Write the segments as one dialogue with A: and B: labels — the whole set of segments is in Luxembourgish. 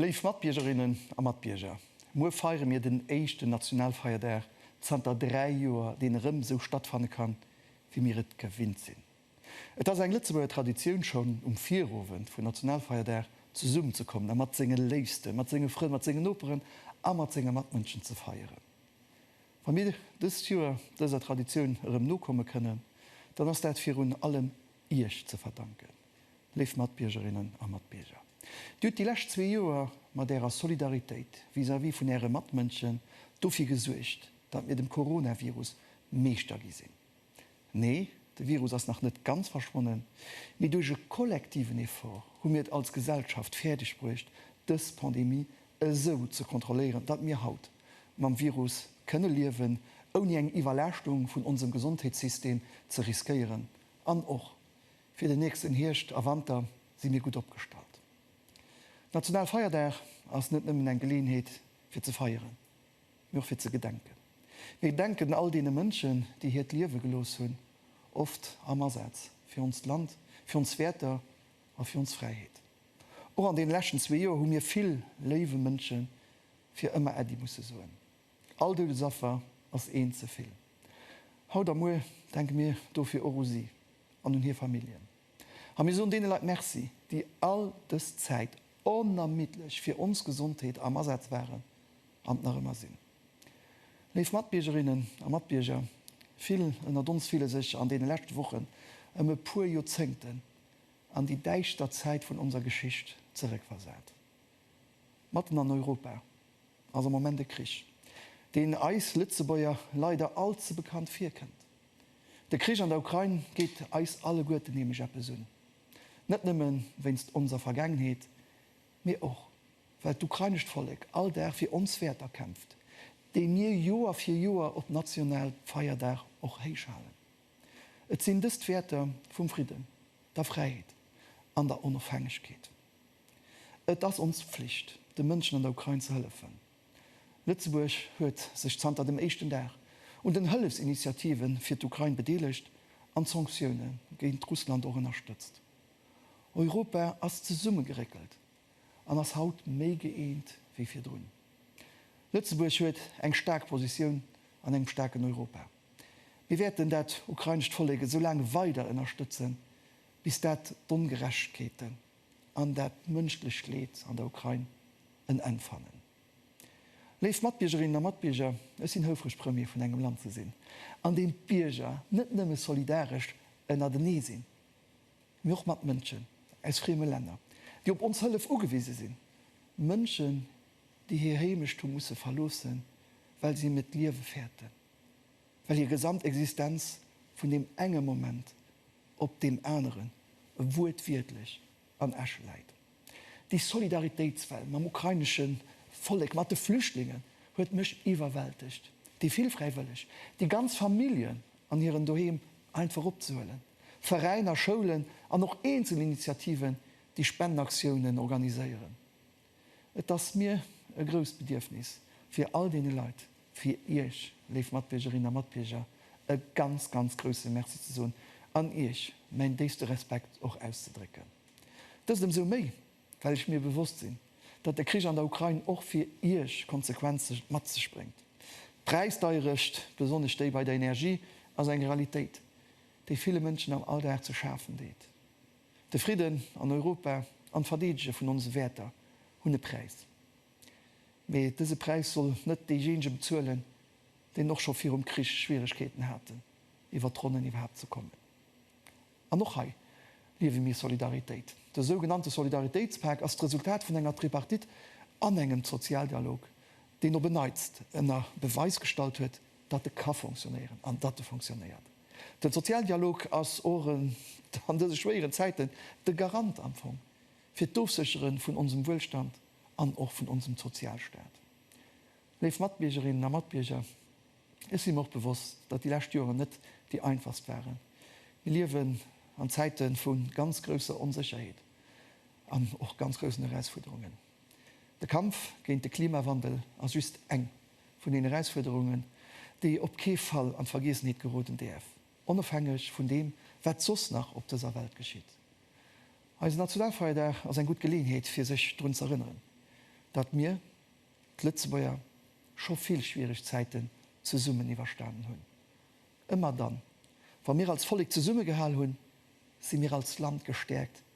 A: Léif Matbiergerinnen a Matbierger, muer feiere mir den éischten Nationalfeierdag zanter dräi Joer, deen erëm esou stattfanne kann, wéi mir et gewinnt sinn. Et ass eng Lëtzebuerger Traditioun, schonn um Virowend vun Nationalfeierdag zesummen ze kommen a mat senge Léifsten, mat senge Frënn, mat sengen Noperen a mat senge Matmënschen ze feieren. Wa mir dëst Joer dëser Traditioun erëm nokomme kënnen, dann ass dat virun allem Iech ze verdanken, léif Matbiergerinnen a Matbierger. Dir hutt déi lescht zwee Joer mat Ärer Solidaritéit vis-à-vis vun Äre Matmënschen dofir gesuergt, datt mir dem Coronavirus Meeschter gi sinn. Nee, de Virus ass nach net ganz verschwonnen, mee duerch e kollektiven Effort hu mir et als Gesellschaft fäerdeg bruecht, dës Pandemie esou ze kontrolléieren, datt mir haut mam Virus kënne liewen, ouni eng Iwwerlaaschtung vun onsem Gesondheetssystem ze riskéieren. An och fir den nächsten Hierscht a Wanter si mir gutt opgestallt. National Feierdag ass net nëmmen eng Geleeënheet fir ze feieren, mee och fir ze gedenken. Mir gedenken all deene Mënschen, déi hiert Liewe gelooss hunn, oft am Asaz fir onst Land, fir ons Wäerter a fir ons Fräiheet. Och an deene leschten zwee Joer hu mir vill léiwe Mënsche fir ëmmer Äddi musse soen. All Doudesaffer ass eent ze vill. Haut a muer denke mir dofir och u si an un hir Familljen. A mir soen deene Leit Merci, déi all dës Zäit onermiddlech fir ons Gesondheet am Asaz waren an nach ëmmer sinn. Léif Matbiergerinnen a Matbierger, vill ënnert ons fille sech an deene leschte Wochen ëm e puer Joerzéngten an déi däischter Zäit vun onser Geschicht zeréckversat. Matten an Europa ass am Moment e Krich, deen eis Lëtzebuerger leider all ze bekannt virkënnt. De Krich an der Ukrain geet eis alleguerten nämlech eppes un. Net nëmme wéinst onser Vergaangenheet, mee och well d'ukrainescht Vollek all Dag fir ons Wäerter kämpft, déi mir Joer fir Joer op national Feierdag och héich halen. Et sinn dës d'Wäerter vum Fridden, der Fräiheet an der Onofhängegkeet. Et ass ons Pflicht, de Mënschen an der Ukrain ze hëllefen. Lëtzebuerg huet sech zanter dem éischten Dag un den Hëllefsinitiative fir d'Ukrain bedeelegt an d'Sanktioune géint Russland och ënnerstëtzt. Europa ass zesummegeréckelt an ass haut méi gëeent wéi virdrun. Lëtzebuerg huet eng staark Positioun an engem staarken Europa. Mir wäerten dat ukrainescht Vollek esou laang weider ënnerstëtzen, bis dat d'Ongerechtegkeeten, an dat mënschlecht Leed an der Ukrain en Enn fannen. Léif Matbiergerinnen a Matbierger, ech sinn houfreg Premier vun engem Land ze sinn, an deem d'Bierger net nëmme solidaresch ënnertenee sinn, mee och mat Mënschen aus frieme Länner, déi op ons Hëllef ugewise sinn, Mënschen, déi hir Heemecht hu musse verloossen, well si net d'Liewe fäerten. well hir gesamt Existenz vun deem enge Moment op deem aneren wuertwiertlech an Asche läit. Déi Solidaritéitswell mam ukrainesche Vollek, mat de Flüchtlingen huet mech iwwerwältegt. Déi vill Fräiwëlleg, déi ganz Familljen an hiren Doheem einfach opzehuelen, Veräiner, Schoulen an och eenzel Initiativen, déi Spendenaktiounen organiséieren. Et ass mir e grousst Bedierfnis, fir all deene Leit, fir Iech, léif Matbiergerinnen a Matbierger, e ganz, ganz grouse Merci ze soen an Iech mäin déifste Respekt och auszedrécken. Dëst ëmsou méi, well ech mir bewosst sinn, datt de Krich an der Ukrain och fir Iech Konsequenze mat sech bréngt. D'Präisdeierecht, besonnesch déi bei der Energie, ass eng Realitéit, déi ville Mënschen am Alldag ze schafen deet. De Fridden an Europa an d'Verdeedege vun onse Wäerter hunn e Präis. Mee dëse Präis soll net deejéinege bezuelen, deen och scho virum Krich Schwieregkeeten haten, iwwert d'Ronnen iwwerhaapt ze kommen. An och hei liewe mir Solidaritéit. De sougenannte Solidaritéitspak ass d'Resultat vun enger Tripartite an engem Sozialdialog, deen op en Neits ënner Beweis gestallt huet, datt e ka fonctionnéieren an datt e fonctionnéiert. Den Sozialdialog ass och an dëse schwéieren Zäiten de Garant am Fong fir d'Ofsécheren vun onsem Wuelstand an och vun onsem Sozialstaat. Léif Matbiergerinnen a Matbierger, ech si mer och bewosst, datt déi lescht Joeren net déi einfachst waren. Mir liewen an Zäiten vu ganz grousser Onsécherheet an och ganz groussen Erausfuerderungen. De Kampf géint de Klimawandel ass just eng vun den Erausfuerderungen, déi op kee Fall an d'Vergiessenheet geroden däerf, onofhängeg vun deem, wat soss nach op dëser Welt geschitt. Eise Nationalfeierdag ass eng gutt Geleeënheet, fir sech drun z'erënneren, datt mir, d'Lëtzebuerger, scho vill schwiereg Zäiten zesummen iwwerstanen hunn. Ëmmer dann, wa mir als Vollek zesummegehal hunn, si mir als Land gestäerkt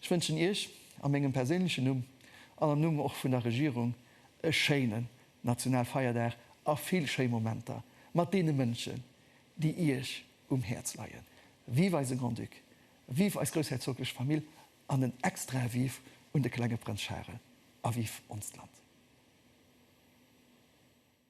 A: Ech wënschen Iech a mengem perséinlechen Numm an am Numm och vun der Regierung e schéinen Nationalfeierdag a vill schéi Momenter mat deene Mënschen, déi Iech um Häerz leien. Vive eise Grand-Duc, vive eis groussherzoglech Famill an en extrae Vive un de klenge Prënz Charel a vive onst Land!